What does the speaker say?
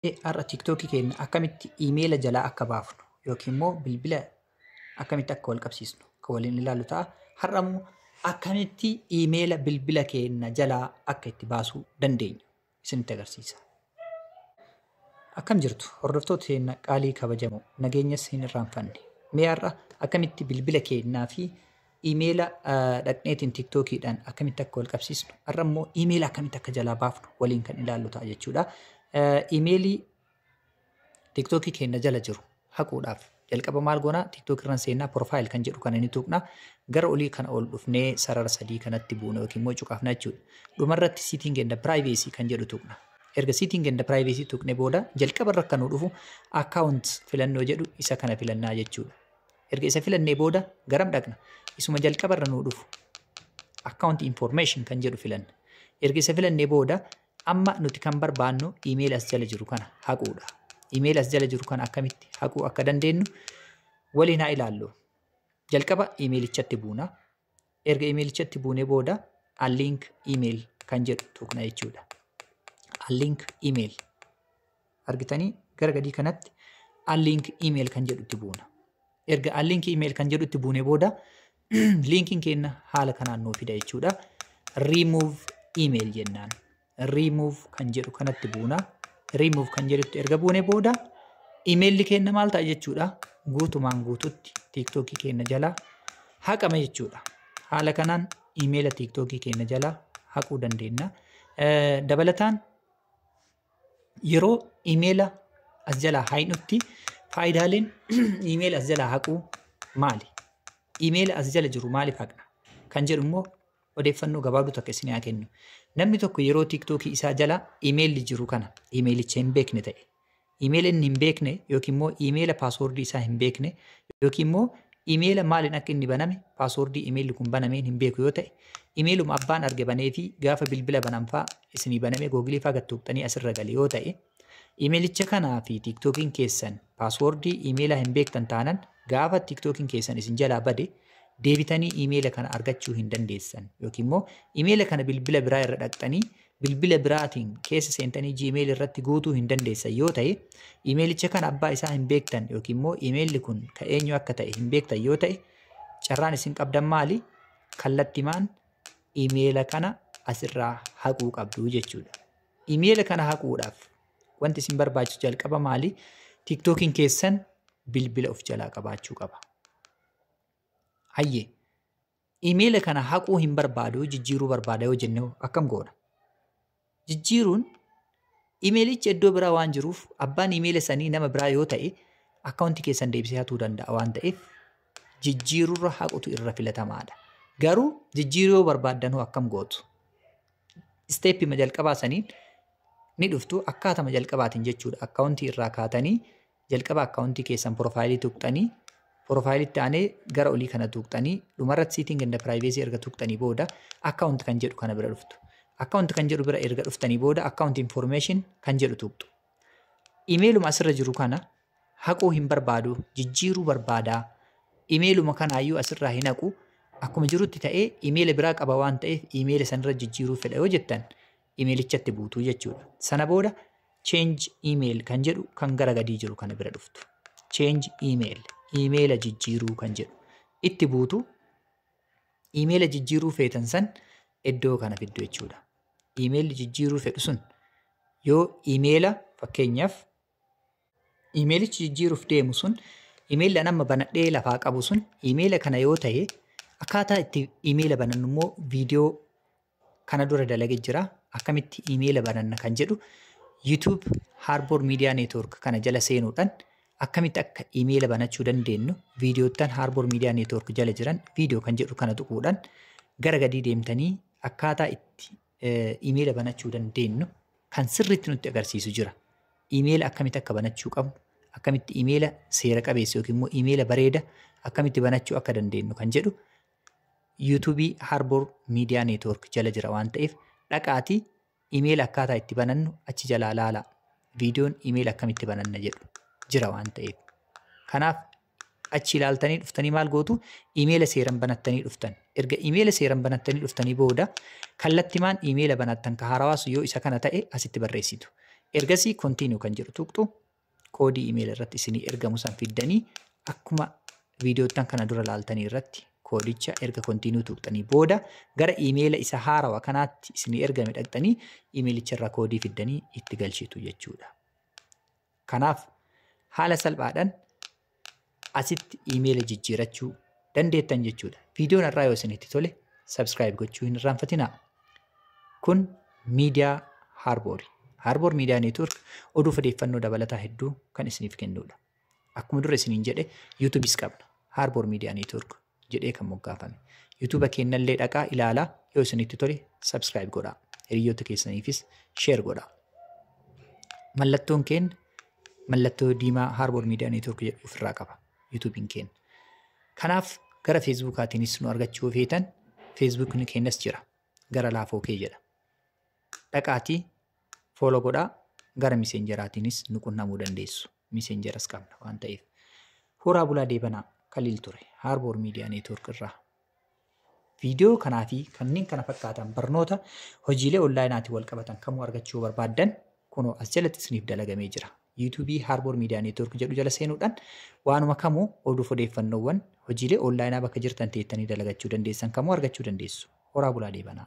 Har'a TikTok keenya akkamitti iimeela jalaa akka baafnu yookiin immoo bilbila akkamitti akka wal qabsiisnu kan waliin ilaallu ta'a. Har'a immoo akkamitti iimeela bilbila keenya jalaa akka itti baasuu dandeenyu isinitti agarsiisa. Akkam jirtu hordoftoota keenya qaalii kabajamoo nageenyas hin irraanfanne. Mee har'a akkamitti bilbila keenyaa fi imeela dhaqneetiin tiktookiidhaan akkamitti akka wal qabsiisnu har'a immoo imeela akkamitti akka jalaa baafnu waliin kan ilaallu ta'a jechuudha. Imeelii tiktookii keenya jala jiru haquudhaaf jalqaba maal goonaa tiktookii irraan seennaa piroofaayil kan jedhu kana ni tuqna gara olii kana ol dhufnee sarara sadii kanatti buuna yookiin immoo cuqaafna jechuudha. Dhumarratti siiting enda piraayiveesii kan jedhu tuqna. Erga siiting enda piraayiveesii tuqne booda jalqaba irra kan nu dhufu akkaawunt filannoo jedhu isa kana filannaa jechuudha. Erga isa filannee booda garam dhaqna? Isuma jalqaba irra nuu dhufu. Account information kan jedhu filanna. Erga isa filannee booda amma nuti kan barbaannu email as jala jiru kana haquudha. Email as jala jiru kana akkamitti haquu akka dandeenyu waliin haa ilaallu. Jalqaba emailichatti buuna. Erga imeelichatti buunee booda unlink email kan jedhu tuqna jechuudha. Unlink email argitanii gara gadii kanatti unlink email kan jedhutti buuna. Erga unlink email kan jedhutti buunee booda linkiin keenya haala kanaan nuu fida jechuudha. Remove email jennaan. remove kan jedhu kanatti buuna. Remove kan jedhutti erga buune booda imeelli keenya maal ta'a jechuudha. Guutumaan guututti tiiktookii keenya jalaa haqama jechuudha. Haala kanaan imeela tiiktookii keenya jalaa haquu dandeenya. Dabalataan yeroo imeela as jalaa haqnutti faayidaaleen imeela as jalaa haquu maali? Imeela as jala jiru maaliif haqna? Kan jedhu immoo odeeffannoo gabaabduu takka isin haa kennu. Namni tokko yeroo tiiktookii isaa jala imeelli jiru kana imeelicha hin beekne ta'e. Imeela inni hin beekne yookiin immoo imeela paaswoordii isaa hin beekne yookiin immoo imeela maaliin akka inni baname paaswoordii imeelli kun banameen hin beeku yoo ta'e imeeluma abbaan arge banee fi gaafa bilbila bananfaa isinii banamee googilii faa gattuuqxanii asirra gale yoo ta'e Imeelicha kanaa fi tiiktookiin keessan paaswoordii imeelaa hin beektan taanan gaafa tiiktookiin keessan isin jalaa bade deebitanii imeela kana argachuu hin dandeessan yookiin immoo imeela kana bilbila biraa irra dhaqxanii bilbila biraatiin keessa seentanii jiimeeli irratti guutuu hin dandeessan yoo ta'e imeelicha kana abbaa isaa hin beektan yookiin immoo imeelli kun ka eenyu akka ta'e hin beektan yoo ta'e carraan isin qabdan maali kallattimaan imeela kana asirraa haquu qabdu jechuudha. Imeela kana haquudhaaf wanti isin barbaachisu jalqaba maali? Tiktookiin keessan bilbila of jalaa qabaachuu qaba. Hayyee. Imeela kana haquu hin barbaadu jijjiiruu barbaada yoo jenne akkam goona? Jijjiiruun imeelichi iddoo biraa waan jiruuf abbaan imeela sanii nama biraa yoo ta'e akkaawuntii keessan deebisee hatuu danda'a waan ta'eef jijjiirurra haqutu irra filatamaadha. Garuu jijjiiruu yoo barbaaddan hoo akkam gootu? isteeppima jalqabaa saniin ni dhuftu akkaatama jalqabaatiin jechuudha akkaawuntii irraa kaatanii jalqaba akkaawuntii keessan piroofaayilii tuqxanii piroofaayilitti aanee gara olii kana tuqxanii dhumarratti siitiin ganda piraayiveesii erga tuqxanii booda akkaawunti kan jedhu kana bira dhuftu akkaawunti kan jedhu bira erga dhuftanii booda akkaawunti infoormeeshin kan jedhu tuqxu imeeluma asirra jiru kana haquu hin barbaadu jijjiiruu barbaada imeeluma kanaayyuu asirraa hin haqu akkuma jirutti ta'ee imeela biraa qaba waan ta'eef imeela sanirra jijjiiruu fedha yoo jettan imeelichatti buutuu jechuudha. Sana booda change email kan jedhu kan gara gadii jiru kana bira dhuftu. Change email imeela jijjiiruu kan jedhu itti buutu imeela jijjiiruu feetan san iddoo kana fiddu jechuudha. Imeelli jijjiiruu fedhu sun yoo imeela fakkeenyaaf Iimeelichi jijjiiruuf deemu sun iimeelli an amma banadhee lafaa qabu sun iimeela kana yoo ta'e akkaataa itti iimeela banannu immoo viidiyoo kana dura dalage jira akkamitti iimeela bananna kan jedhu YouTube Harbor Media Network kana jala seenuudhaan akkamitti akka iimeela banachuu dandeenyu viidiyoottan Harbor Media Network jala jiran viidiyoo kan jedhu kana tuquudhaan gara gadii deemtanii akkaataa itti iimeela banachuu dandeenyu kan sirriitti nutti agarsiisu jira. Imeela akkamitti akka banachuu qabnu, akkamitti imeela seera qabeessa yookiin immoo imeela bareeda akkamitti banachuu akka dandeenyu kan jedhu yuutuubii Harbor Miidiyaa Neetwoork jala jira waan ta'eef dhaqaatii imeela akkaataa itti banannu achi jalaa laala. Viidiyoon imeela akkamitti bananna jedhu jira waan ta'eef. Kanaaf achi ilaaltanii dhuftanii maal gootu imeela seeran banattanii dhuftan erga imeela seeran banattanii dhuftanii booda kallattimaan imeela banattan ka haarawaas yoo isa kana ta'e asitti barreessitu ergasii kontiinuu kan jedhu tuqxu koodii imeela irratti isinii ergamu san fiddanii akkuma viidiyoottan kana dura laaltanii irratti koodicha erga kontiinuu tuqxanii booda gara imeela isa haarawa kanaatti isinii ergame dhaqxanii imeelicha irraa koodii fiddanii itti galchitu jechuudha. Kanaaf haala salphaadhaan asitti iimeela jijjiirachuu dandeettan jechuudha. Viidiyoon har'aa yoo isinitti tole subscribe gochuu hin irraanfatinaa. Kun miidiyaa Harboori. Harboor miidiyaa neetwork oduu odeeffannoo dabalataa hedduu kan isiniif kennudha. Akkuma dura isiniin jedhe yuutuubis qabna. Harboor miidiyaa neetwork jedhee kan moggaafame. YouTube keennallee dhaqaa ilaalaa yoo isinitti tole subscribe godhaa. Hiriyoota keessaniifis share godhaa. Mallattoon keen mallattoo diimaa Harbour Media Network jedhu ofirraa qaba. YouTube'n keen. Kanaaf gara Facebookaatiinis nu argachuu feetan Facebookni keenyas jira. Gara laafoo kee jedha. Dhaqaatii fooloo godhaa gara miseenjeraatiinis nu qunnamuu dandeessu. Messengeras qabna waan ta'eef. Horaa bulaa deebanaa Khalil ture Harbour Media Network irraa. Viidiyoo kanaa fi kanneen kana fakkaatan barnoota hojiilee onlaayinaatiin wal qabatan kamuu argachuu yoo barbaaddan kunoo as jalatti isiniif dalagamee jira. YouTube Harbour Media Network jedhu jala seenuudhaan waanuma kamuu oduuf odeeffannoowwan hojiilee onlaayinaa bakka jirtan teettanii dalagachuu dandeessan kamuu argachuu dandeessu. Horaa bulaa deebanaa.